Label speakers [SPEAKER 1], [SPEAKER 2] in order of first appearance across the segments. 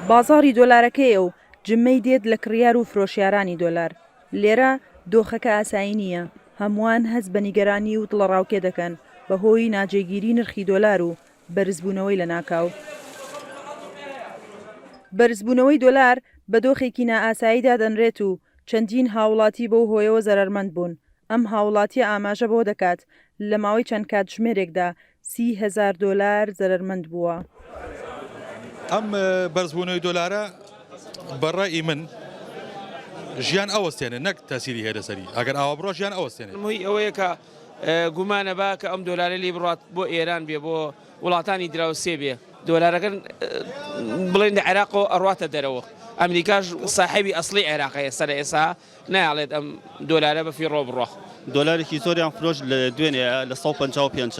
[SPEAKER 1] بازاڕی دۆلارەکەیە و جمەی دێت لە کڕیار و فرۆشیارانی دۆلار. لێرە دۆخەکە ئاسایی نییە، هەمووان هەست بە نیگەرانی و دڵەڕاوکێ دەکەن بەهۆی ناجێگیری نرخی دۆلار و بەرزبوونەوەی لەناکاو. بەرزبوونەوەی دۆلار بە دۆخێکی نائاسایی دادەنرێت و چەندین هاوڵاتی بەو هۆیەوە زەرەرمەند بوون. ئەم هاوڵاتییە ئاماژە بەوە دەکات، لە ماوەی چەند کاتژمێرێکدا سی هەزار دۆلار زەرەرمەند بووە.
[SPEAKER 2] ئەم بەرزبوونەوەی دۆلارە بە ڕای من ژیان ئەوەستێنێت نەک تەئسیری هەیە لەسەری، ئەگەر ئاوا بڕوات ژیان ئەوەستێنێت. مووی ئەوەیە کە
[SPEAKER 3] گومانە با کە ئەم دۆلارە لێی بڕوات بۆ ئێران بێ بۆ وڵاتانی دراوسێ بێ دۆلارەکە بڵێن لە عێراقەوە ئەڕواتە دەرەوە ئەمریکاش ساحێبی ئەسڵی عێراقە ئێستا لە ئێستا نایەڵێت ئەم دۆلارە بە فیڕۆ بڕۆ. دۆلارێکی زۆریان
[SPEAKER 4] فرۆشت لە دوێنێ لە سەد و پەنجا و پێنج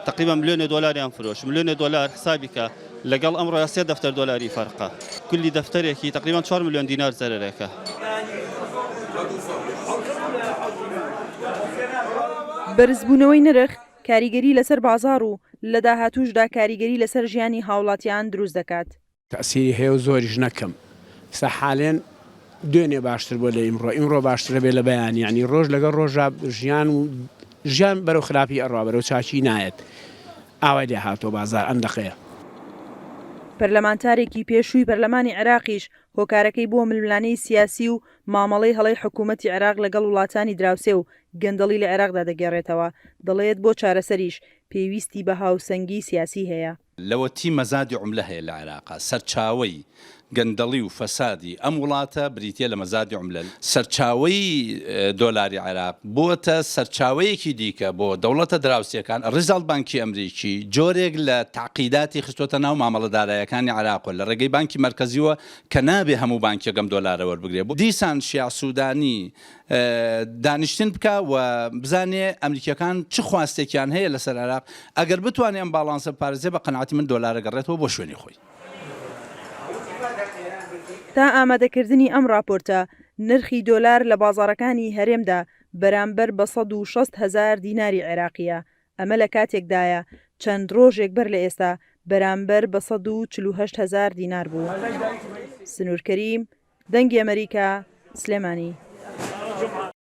[SPEAKER 4] تەقریبا ملیۆنێ دۆلاریان فرۆشت ملیۆنێ دۆلار حسابی کە لەگەڵ ئەمڕۆ سێ دەفتەر دۆلاری فەرقە کلی دەفتەرێکی تەقریبا چوار ملیۆن دینار زەرەرێکە.
[SPEAKER 1] بەرزبوونەوەی نرخ کاریگەری لەسەر بازاڕ و لە داهاتووشدا کاریگەری لەسەر ژیانی هاوڵاتیان دروست دەکات. تەئسیری هەیە و
[SPEAKER 5] زۆریش نەکەم ئیستا حالێن دوێنێ باشتر بوە لە ئیمڕۆ ئیمڕۆ باشترە بێ لە بەیانی یانی ڕۆژ لەگەڵ ڕۆژا ژیان و ژیان بەرەو خراپی ئەڕا بەرەو چاکی نایەت ئاوای لێ هاتوە بازار ئەم دەقەیە. پەرلەمانتارێکی
[SPEAKER 1] پێشووی پەرلەمانی عێراقیش هۆکارەکەی بووە ململانێی سیاسی و مامەڵەی هەڵەی حکوومەتی عێراق لەگەڵ وڵاتانی دراوسێ و گەندەڵی لە عێراقدا دەگێڕێتەوە، دەڵێت بۆ چارەسەریش پێویستی بە هاوسەنگیی سیاسی هەیە. لەوەتی مەزادی
[SPEAKER 6] عوملە هەیە لە عێراق، سەرچاوەی گەندەڵی و فەسادی ئەم وڵاتە بریتیە لە مەزادی عوملە، سەرچاوەی دۆلاری عێراق بووەتە سەرچاوەیەکی دیکە بۆ دەوڵەتە دراوسێکان، ڕیزاڵت بانکی ئەمریکی جۆرێک لە تەعقیداتی خستۆتە ناو مامەڵە دارایەکانی عێراق و لە ڕێگەی بانکی مەرکەزیوە کە نابێ هەموو بانکێک ئەم دۆلارە وەربگرێ بۆ دیسان شیاع سودانی دانیشتن بکا و بزانێ ئەمریکیەکان چ خواستێکیان هەیە لەسەر عێراق، ئەگەر بتوانێ ئەم باڵانسە بپارێزێ بە قەناعەتی من دۆلارە گەڕێتەوە بۆ شوێنی خۆی.
[SPEAKER 1] تا ئامادەکردنی ئەم ڕاپۆرتە نرخی دۆلار لە بازاڕەکانی هەرێمدا بەرامبەر بە سەد و شەست هەزار دیناری عێراقیە، ئەمە لە کاتێکدایە چەند رۆژێک بەر لە ئێستا بەرامبەر بە سەد و چل و هەشت هەزار دینار بوو. سنوور کەریم، دەنگی ئەمەریکا، سلێمانی.